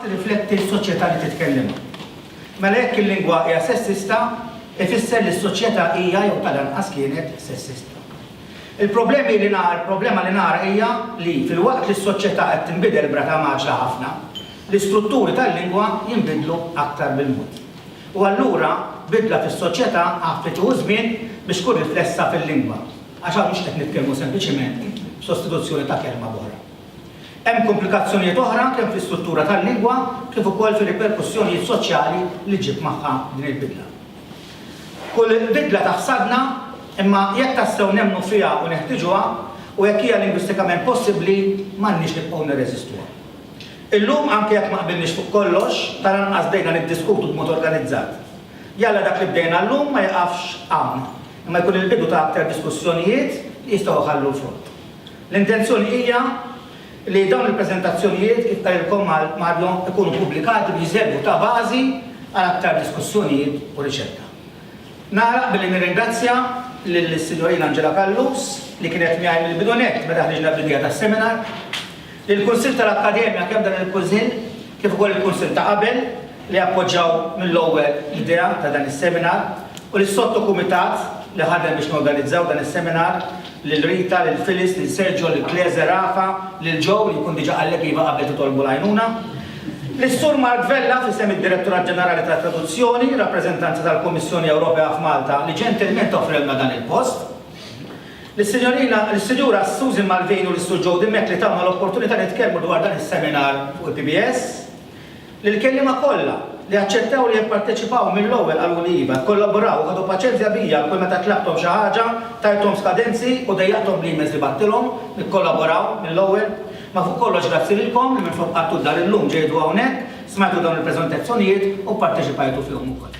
tirrifletti s-soċjetà li titkellem. Mela jekk il-lingwa hija sessista, ifisser li s-soċjetà hija jew tal-anqas kienet sessista. Il-problemi li nara, il-problema li nara hija li fil-waqt li s-soċjetà qed tinbidel brata maġla ħafna, L-istrutturi tal-lingwa jinbidlu aktar bil-mod. U allura bidla fis-soċjetà għaffi tieħu żmien biex tkun riflessa fil-lingwa, għax hawn mhux qed nitkellmu sempliċiment b'sostituzzjoni ta' kelma b'oħra. Hemm komplikazzjonijiet oħra kemm fl-istruttura tal-lingwa kif ukoll fir-riperkussjonijiet soċjali li ġġib magħha din il-bidla. Kull bidla taħsadna, imma jekk tassew nemmnu fiha u neħtiġuha, u jekk hija lingwistikament possibbli, m'għandniex nibqgħu nirreżistuha. Illum, anke jekk ma qbilniex fuq kollox, tal-anqas bdejna niddiskutu b'mod organizzat. Jalla dak li bdejna llum ma jieqafx hawn, imma jkun il-bidu ta' aktar diskussjonijiet li jistgħu jħallu l-frott. L-intenzjoni hija li dawn il-preżentazzjonijiet, kif qalilkom Mario, ikunu ppubblikati biex iservu ta' bażi għal aktar diskussjonijiet u riċerka. Nagħlaq billi nirringrazzja lill-Sinjorina Angela Callus, li kienet miegħi mill-bidu nett meta ħriġna bl-idea tas-seminar, lill-Kunsill tal-Akkademja, kemm dan il-Kunsill kif ukoll il-Kunsill ta' qabel, li appoġġaw mill-ewwel l-idea ta' dan is-seminar, u lis-Sottokumitat li ħadem biex norganizzaw dan is-seminar. lil Rita, lil Phyllis, lil Sergio, lil Kleze, Rafa, lil Joe li jkun diġà qallek iva qabel titolbu l-għajnuna, lis-Sur Mark Vella f'isem id-Direttorat Ġenerali tat-Traduzzjoni, rappreżentanza tal-Kummissjoni Ewropea f'Malta li ġentilment offrewlna dan il-post, lis-Sinjorina, lis-Sinjura Susan Malvin u lis-Sur Joe Dimech li tawna l-opportunità nitkellmu dwar dan is-seminar fuq il-PBS. Lill-kelliema kollha li aċċettaw li jipparteċipaw mill-ewwel qaluli iva, kkollaboraw u ħadu paċenzja bija kull meta tlabthom xi ħaġa, tajthom skadenzi u dejjaqthom bl-emails li bagħtilhom, ikkollaboraw mill-ewwel. Ma fuq kollox grazzi lilkom li minflok qagħdtu d-dar illum ġejtu hawnhekk, smajtu dawn il-preżentazzjonijiet u pparteċipajtu fihom ukoll.